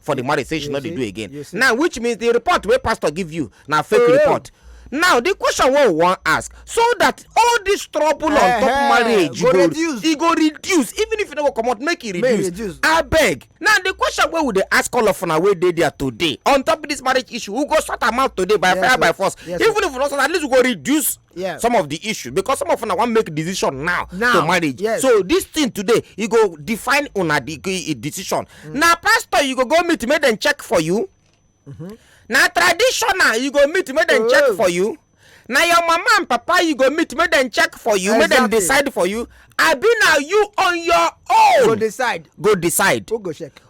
for the marriage say she no dey do again now which means the report wey pastor give you na fake oh. report now the question wey we wan ask so that all this trouble on top eh, eh, marriage go reduce e go reduce even if you no go comot make e reduce abeg now the question wey we dey ask all of una wey dey there today on top this marriage issue we go sort am out today by fire by force even if we no sort at least we go reduce yeah. some of the issues because some of una wan make decision now, now to marriage yes. so this thing today you go define una the decision mm. na pastor you go go meet make dem check for you mm -hmm. na traditional you go meet make dem oh. check for you na your mama and papa you go meet make dem check for you exactly. make dem decide for you abi na you on your own go decide go decide who go check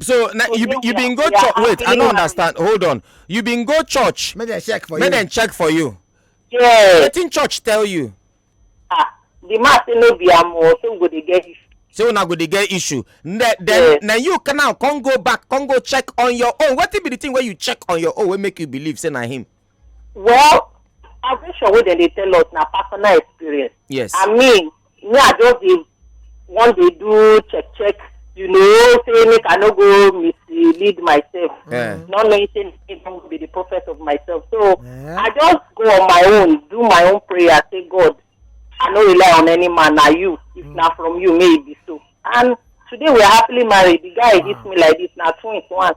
so na you you bin go church wait i no understand hold on you bin go church make dem check for you make dem check for you yes wetin church tell you ah the man say no be am o say we go dey get issue say una go dey get issue then then na you can now come go back come go check on your own wetin be the thing wey you check on your own wey make you believe say na him Well, salvation wey dem dey tell us na personal experience. Yes. I mean, me I just dey wan dey do check check, you know, say make I no go mislead myself. Yeah. Not knowing say me don be the prophet of myself. So Yeah. I just go on my own, do my own prayer, say God, I no rely on any man, na you. If na from you, may it be so. And today we are happily married. The guy hit me like this, na twins once.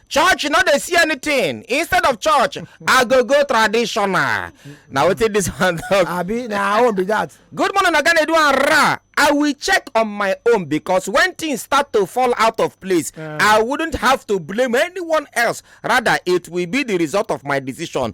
church no dey see anything instead of church i go go traditional na wetin dis one talk abi na our own be that. good morning oga nedu and ra i will check on my own because when things start to fall out of place i wouldn't have to blame anyone else rather it will be the result of my decision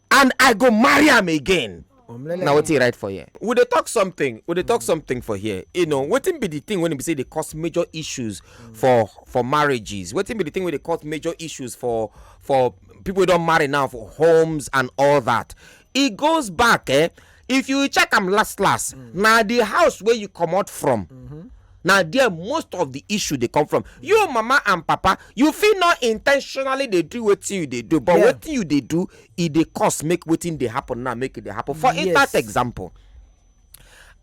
and i go marry am again na wetin e write for here we dey talk something we dey talk something for here you know wetin be the thing wey be say dey cause major issues for for marriages wetin be the thing wey dey cause major issues for for people wey don marry now for homes and all that e goes back eh if you check am last last mm. na the house wey you comot from mm-hmm. na there most of the issue dey come from you mama and papa you fit no intentionally dey do wetin you dey do but yeah. wetin you dey do e dey cause make wetin dey happen now make e dey happen for yes. instance example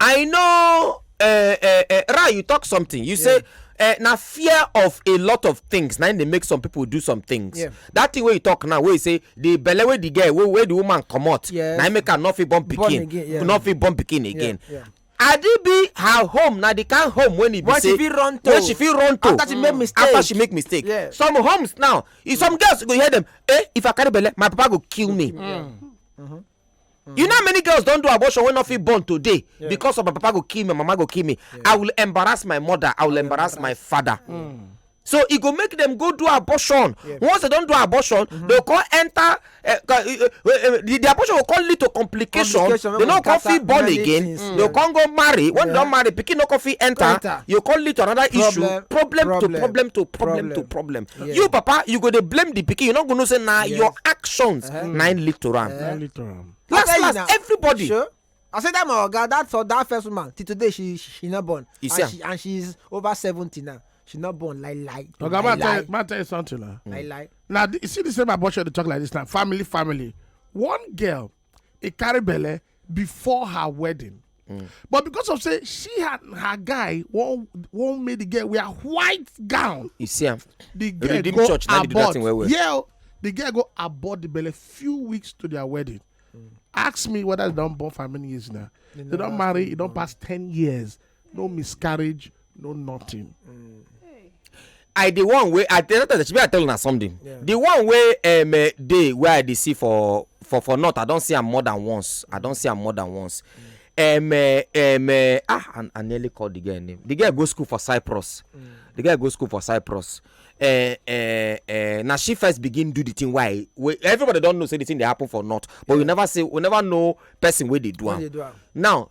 i know eh, eh, eh, ra you talk something you say eh, na fear of a lot of things na im dey make some people do some things Yeah. that thing wey you talk now wey you say the belle wey the girl wey wey the woman comot Yes. na im make am no fit born Born pikin again, yeah. no fit born pikin again yeah. adibi her home na the kind home wey e be When she say fit run to. when she fit run to After she make mistake. after she make mistake Yeah. some homes now if some girls you go hear them eh if i carry belle my papa go kill me Mm. You know how many girls don't do abortion when not fit born today yeah. because of my papa go kill me, my mama go kill me. Yeah. I will embarrass my mother. I will embarrass, embarrass my father. Mm. So it go make them go do abortion. Yeah. Once they don't do abortion, mm -hmm. they go enter. Uh, eh, uh, eh, uh, eh, the, the abortion will call lead to complication. complication they no come fit born again. Things, mm. They can't go marry. When yeah. they don't marry, pikin no come fit enter. enter. You call lead to another problem, issue. Problem, problem, to problem, problem to problem. Yeah. you papa you go dey blame the pikin you no go know say na Yes. your actions Uh-huh. na im lead to am Eh. Now later on. I last tell you last now. everybody Sure. I said that my oga that for that first woman till today she she, she not born You and see am? she and she's over seventy now she not born like like Oga, like man, tell, like man, tell you something now. like like Now, th- you see the same abortion they talk like this now. Family, family. One girl he carry belle before her wedding mm. but because of say she and her guy wan wan make the girl wear white gown you see am the girl go church, abort well well. yeah oh, the girl go abort the belle few weeks to their wedding mm. ask me whether they don born for how many years now they, they don marry e don pass ten years no miscarriage no nothing. Mm. i the one wey i tell tell shebi i tell una something yeah. the one wey um, eh, dey wey i dey see for for for north i don see am more than once i don see am more than once mm. um, uh, um, uh, ah and i nearly call the girl name the girl go school for cyprus mm. the girl go school for cyprus uh, uh, uh, na she first begin do the thing why wey everybody don know say the thing dey happen for north but yeah. we never say we never know person wey dey do am now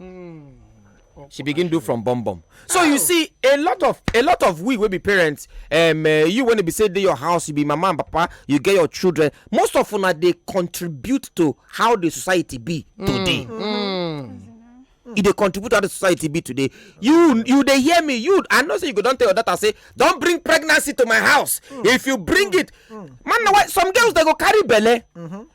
Mm. she begin do from bum bum so you see a lot of a lot of we wey be parents um, uh, you when e be say dey your house you be mama and papa you get your children most of una dey contribute to how the society be mm. today. Mm. Mm. e dey contribute to how the society be today you you dey hear me you i know say you go don tell your daughter say don bring pregnancy to my house mm. if you bring mm. it mm. man na why some girls dey go carry belle. Mm -hmm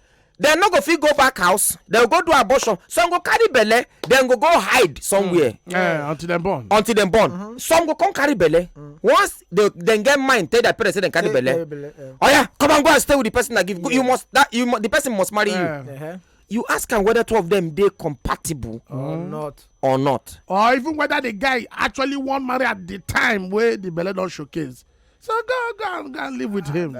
dem no go fit go back house dem go do abortion some go carry belle dem go go hide somewhere mm. eh, until dem born until dem born mm-hmm. some go come carry belle mm. once dem get mind tell their parents say dem carry belle eh. oya come and go and stay with the person i give you must that you the person must marry you uh-huh. you ask am whether two of them dey compatible or mm. not or not or even whether the guy actually wan marry at the time wey the belle don showcase so go go go and live with him.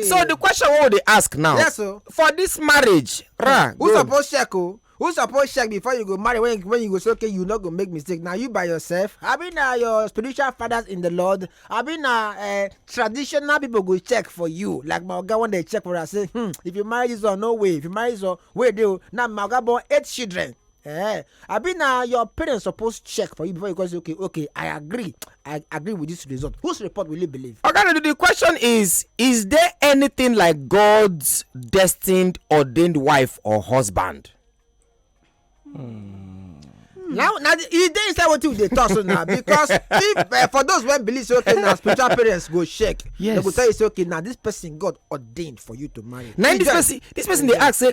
so the question wey we dey ask now. yes o. Oh. for this marriage. ra who suppose check o. Oh? who suppose check before you go marry when when you go say okay you no go make mistake na you by yourself abi na your spiritual fathers in the lord abi na uh, traditional people go check for you like my oga wan dey check for us say hmm if you marry this one no way if you marry this one wey dey o na my oga born eight children eh abi na your parents suppose check for you before you go say okay okay i agree i agree with this result whose report will you believe. oga okay, the question is is there anything like god's destined ordained wife or husband. Hmm. now now e dey inside wetin we dey talk so now because if uh, for those wey believe say okay na spiritual parents go check yes. they go tell you say okay na this person god ordained for you to marry. na this person this person dey ask say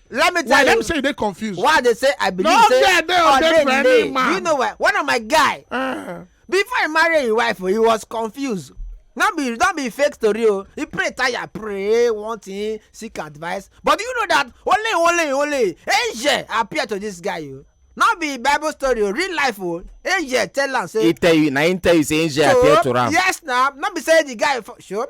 Let me tell why you. Let me say you dey confused. Why they say I believe no, say yeah, they are dead for any man. You know what? One of my guy. Uh. Before he marry his wife, he was confused. Don't be don't be fake story o. Oh. He pray tire pray one thing seek advice. But do you know that only only only angel appear to this guy o. Oh. Not be bible story o oh. real life o. Angel tell am say. He tell you na him tell you say angel appear to am. Yes na no be say the guy for sure.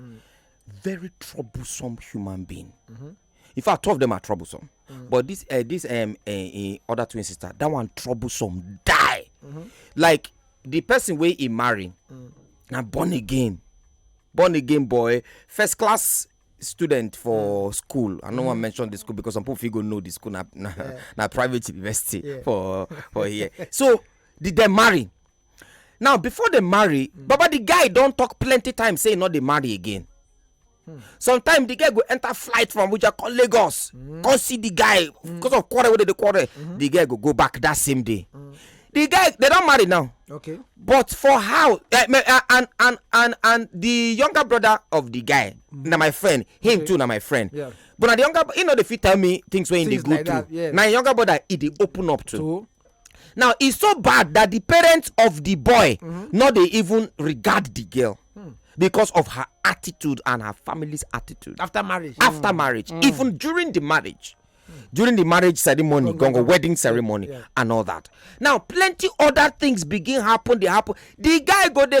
Mm. Very troublesome human being. Mm -hmm. In fact, two of them are troublesome. Mm. But this uh, this um uh, uh, other twin sister, that one troublesome die. Mm -hmm. Like the person wey he marry mm. na born again born again boy first class student for mm. school i no wan mm. mention the school because some people fit go know the school na na, yeah. na private university yeah. for for here so did dem marry now before they marry hmm. baba the guy don talk plenty times say e no dey marry again hmm. sometimes the guy go enter flight from abuja come lagos hmm. come see the guy because of quarrel wey dey dey quarrel the guy go go back that same day the guy they don marry now okay but for how eh, eh, and and and and the younger brother of the guy na my friend him too na my friend Yeah. but na the younger you know dey fit tell me things wey him dey go through na him younger brother he dey open up to now e so bad that the parents of the boy mm-hmm. no dey even regard the girl hmm. because of her attitude and her family's attitude after marriage after mm. marriage mm. even during the marriage during the marriage ceremony gongo wedding ceremony yeah. and all that now plenty other things begin happen dey happen the guy go dey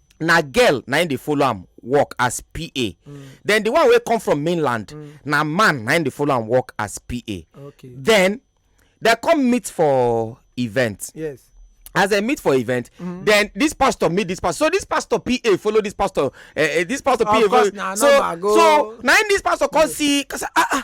na girl na im dey follow am work as pa mm. then the one wey come from mainland mm. na man na im dey follow am work as pa okay. then dem come meet for event yes as dem meet for event mm -hmm. then this pastor meet this pastor so this pastor pa follow this pastor uh, uh, this pastor pa follow so so na im this pastor come see cause ah ah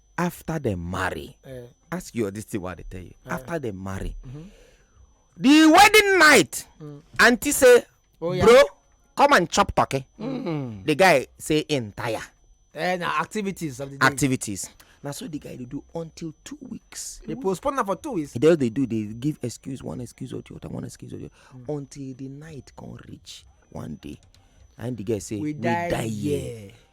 after dem marry eh. ask your this thing wey i dey tell you eh. after dem marry mm-hmm. the wedding night mm. aunty say oh, bro come and chop turkey mm. the guy say in tire eh, na activities of the day activities na so the guy dey do until two weeks dey postpone am for two weeks they dey do dey give excuse one excuse or the other one excuse or the other mm. until the night come reach one day and the guy say we die here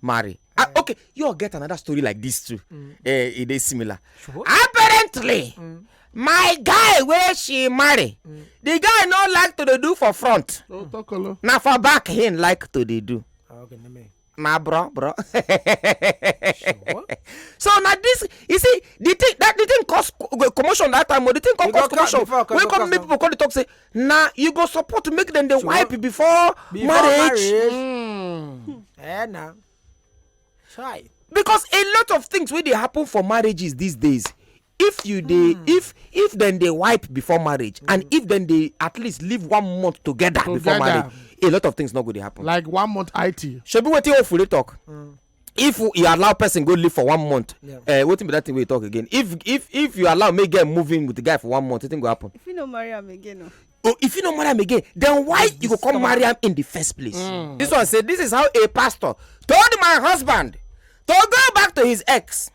marry ah mm. okay you all get another story like this too mm. eh, e dey similar apparently mm. my guy wey she marry the guy no like to dey do for front na for back him like to dey do ah, na bro bro so na this you see the thing that the thing cause commotion that time o oh, the thing come cause commotion wey come make people come dey talk say na you go support make dem dey wipe before marriage hmm. eh na try because a lot of things wey dey happen for marriages these days if you dey hmm. if if dem dey wipe before marriage and hmm. if dem dey at least live one month together before marriage a lot of things no go dey happen like one month it shebi wetin ofure talk if you allow person go live for one month yeah. uh, wetin be that thing wey you talk again if if if you allow make girl move in with the guy for one month wetin go happen. if you no marry am again o. Oh. Oh, if you no marry am again then why you go come marry am in the first place. Mm. this one say this is how a pastor told my husband to go back to his ex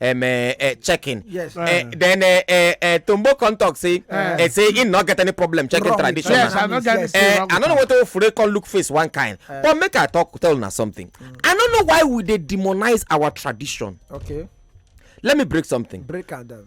um, uh, uh, checking. Yes. Uh, uh, then uh, uh, uh, Tombo come talk say uh, uh, say he not get any problem checking Wrong. traditional. Yes, I not get yes. uh, I don't know what to fure come look face one kind. Uh, but make I talk tell na something. Mm. I don't know why we dey demonize our tradition. Okay. Let me break something. Break and. Um,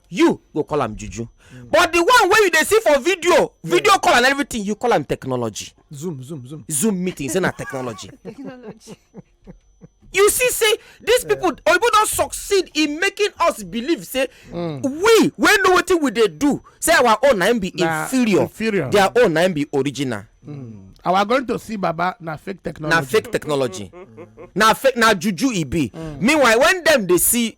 you go call am juju but the one wey you dey see for video video call and everything you call am technology zoom zoom zoom zoom meeting say na technology technology you see say these people oyibo don succeed in making us believe say mm. we wey know wetin we dey do say our own na be inferior inferior their own na be original mm. our going to see baba na fake technology na fake technology na fake na juju e be mm. meanwhile when dem dey see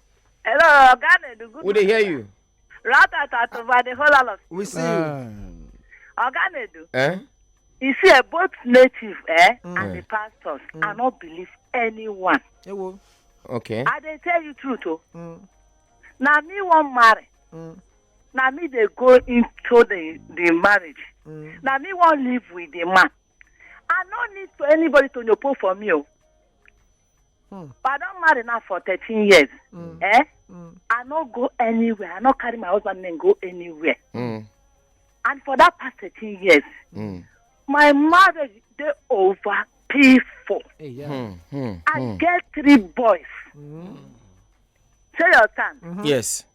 Hello, oga Nedu. Good We dey hear you. Ratata over the whole lot of We see you. Ah. oga Nedu. Eh? You see, eh, both native eh, Mm. and the pastors are not believe anyone. Ewo. Okay. I dey tell you truth o. Mm. Na me wan marry. Mm. Na me dey go into the the marriage. Mm. Na me wan live with the man. I no need to anybody to nyopo for me o. Hmm. But I don marry now for thirteen years. Hmm. Eh? Hmm. I no go anywhere. I no carry my husband name go anywhere. Mm. And for that past thirteen years, Mm. my marriage dey over painful. Hey, yeah. Mm. Mm. I get three boys. Say your turn. Yes.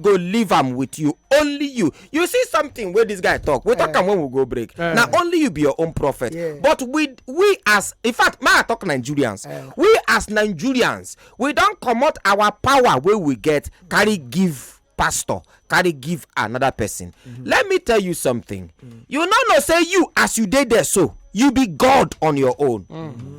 go leave am with you only you you see something wey this guy talk we talk eh. am when we go break eh. na only you be your own prophet but we we as in fact may i talk nigerians eh. we as nigerians we don comot our power wey we get carry give pastor carry give another person mm-hmm. let me tell you something mm. you no know say you as you dey there so you be god on your own mm-hmm.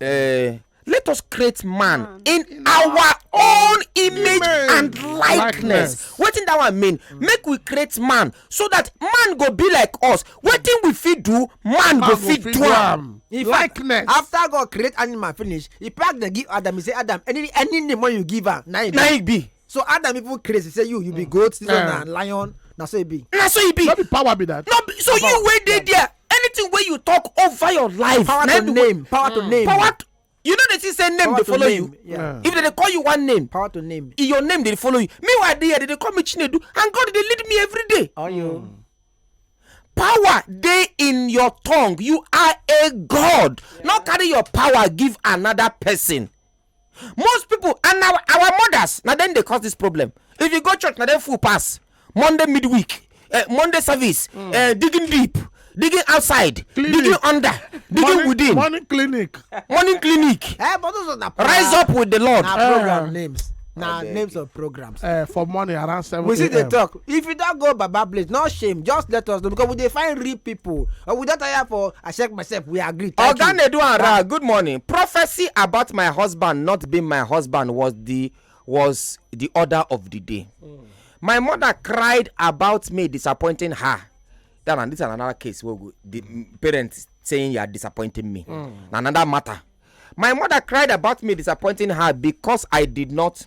Uh, let us create man, man. in, in our, our own image, image and likeness. What wetin that one mean mm. make we create man so that man go be like us wetin we fit do man, man go fit do am. in fact after god create animal finish he pack the give adam he say adam any any name wey you give am na he be. so adam even crazy say you you be mm. goat this one eh. na lion na so e be. na so e be. no be power be that. no be so you wey dey there anything wey you talk over your life. power to name power to mm. name. power to you know they see say name dey follow you yeah. if they dey call you one name power to name your name dey follow you meanwhile dey here they dey call me chinedu and god dey lead me every day. Oh, you. Mm. power dey in your tongue you are a god yeah. no carry your power give another person. most people and our, our mothers na dem dey cause this problem if you go church na dem full pass monday midweek uh, monday service mm. uh, digging deep digging outside clinic. digging under digging morning, within morning clinic morning clinic eh, but those are rise up with the lord na program uh. names na names of program. uh, for morning around seven. we see the talk if you don't go baba place no shame just let us know because we dey find real people uh, we don't tire for i check myself we agree. oga nedu ara good morning prophecy about my husband not being my husband was the was the order of the day. Mm. my mother cried about me disappointing her that and this is another case where the parents saying you are disappointing me mm. another matter my mother cried about me disappointing her because i did not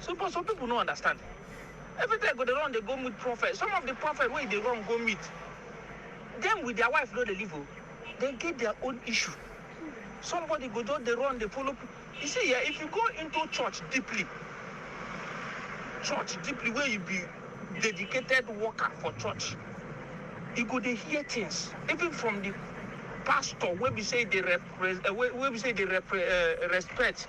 So but some people no understand. Every time go dey run dey go meet prophet. Some of the prophet wey dey run go meet, them with their wife no dey live o. Oh. They get their own issue. Somebody go just dey run dey follow. You see, yeah, if you go into church deeply, church deeply where you be dedicated worker for church, you go dey hear things even from the pastor wey be say dey rep, uh, wey, wey be say dey rep, uh, respect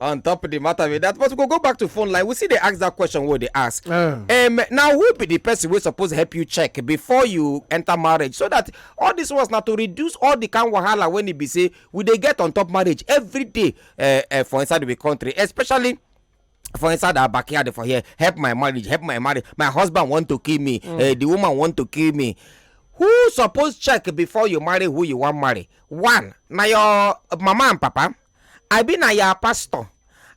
on top of the matter with that but we go go back to phone line we see they ask that question what they ask uh. um, now who be the person we suppose help you check before you enter marriage so that all this was not to reduce all the kind wahala when it be say we they get on top marriage every day uh, uh, for inside the country especially for inside our backyard for here help my marriage help my marriage my husband want to kill me mm. uh, the woman want to kill me who suppose check before you marry who you wan marry one na your mama and papa I be na your pastor,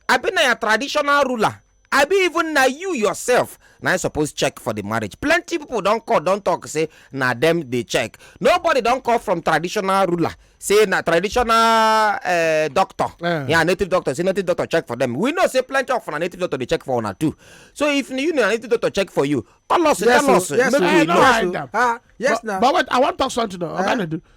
I be na your traditional ruler, I be even na you yourself na you suppose check for the marriage. Plenty people don call, don talk say na them dey check. Nobody don call from traditional ruler say na traditional uh, doctor, yeah. yeah, native doctor, say native doctor check for them. We know say plenty of na native doctor dey check for una too. So if you know native doctor check for you, call us, yes, tell us, yes, make we know. Yes, uh, yes, but, but wait, I wan talk something. Uh, I'm gonna do.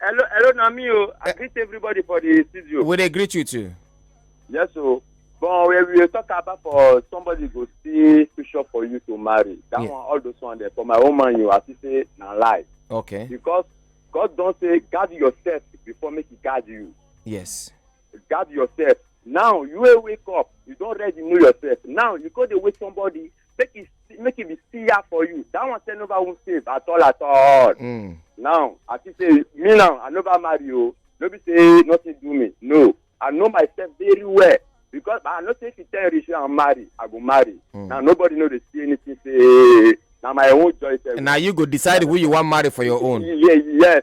Hello, hello, na me o. I eh. greet everybody for the studio. We dey greet you too. Yes o. But when we talk about for somebody go see picture for you to marry, that yeah. one all those one there for my own man you as you say na lie. Okay. Because God don say guard yourself before make he guard you. Yes. Guard yourself. Now you wake up, you don ready know yourself. Now you go dey wait somebody make e make e be siya for you that one say nobody won save at all at all mm. now i see say me now i nobody marry o oh. no be say nothing do me no i know myself very well because i know say if you tell rich i marry i go marry mm. now nobody know dey see anything say na my own choice. na you go decide who you wan marry for your own. yes yes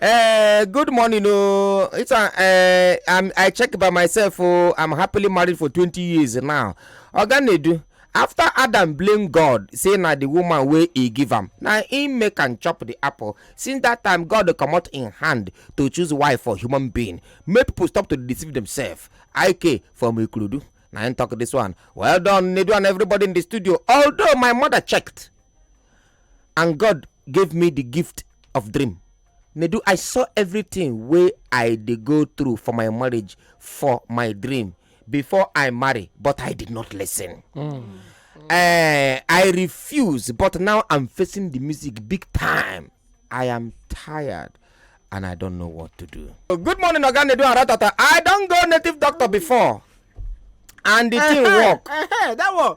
Uh, good morning, oh. It's a, uh, I'm, I check by myself. Oh, I'm happily married for 20 years now. Oganedu, after Adam blame God, say na the woman wey he give am, na him make am chop the apple. Since that time, God comot in hand to choose wife for human being. Make people stop to deceive themselves. IK from Ikuludu. Now I talk this one. Well done, Nedu and everybody in the studio. Although my mother checked, and God gave me the gift of dream nedu i saw everything wey i dey go through for my marriage for my dream before i marry but i did not listen Eh, i refuse but now i'm facing the music big time i am tired and i don't know what to do good morning oga nedu and ratata i don go native doctor before and the thing work Eh, that one.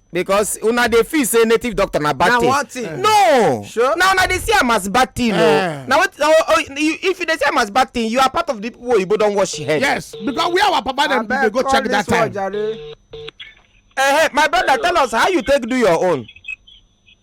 because una dey feel say native doctor na bad thing na one thing no sure na una dey see am as bad thing o oh. eh. na what oh, oh, if you dey see am as bad thing you are part of the people oyibo don wash head. yes because where our papa dem dey go check that time. Uh, eh, hey, eh, my brother tell us how you take do your own.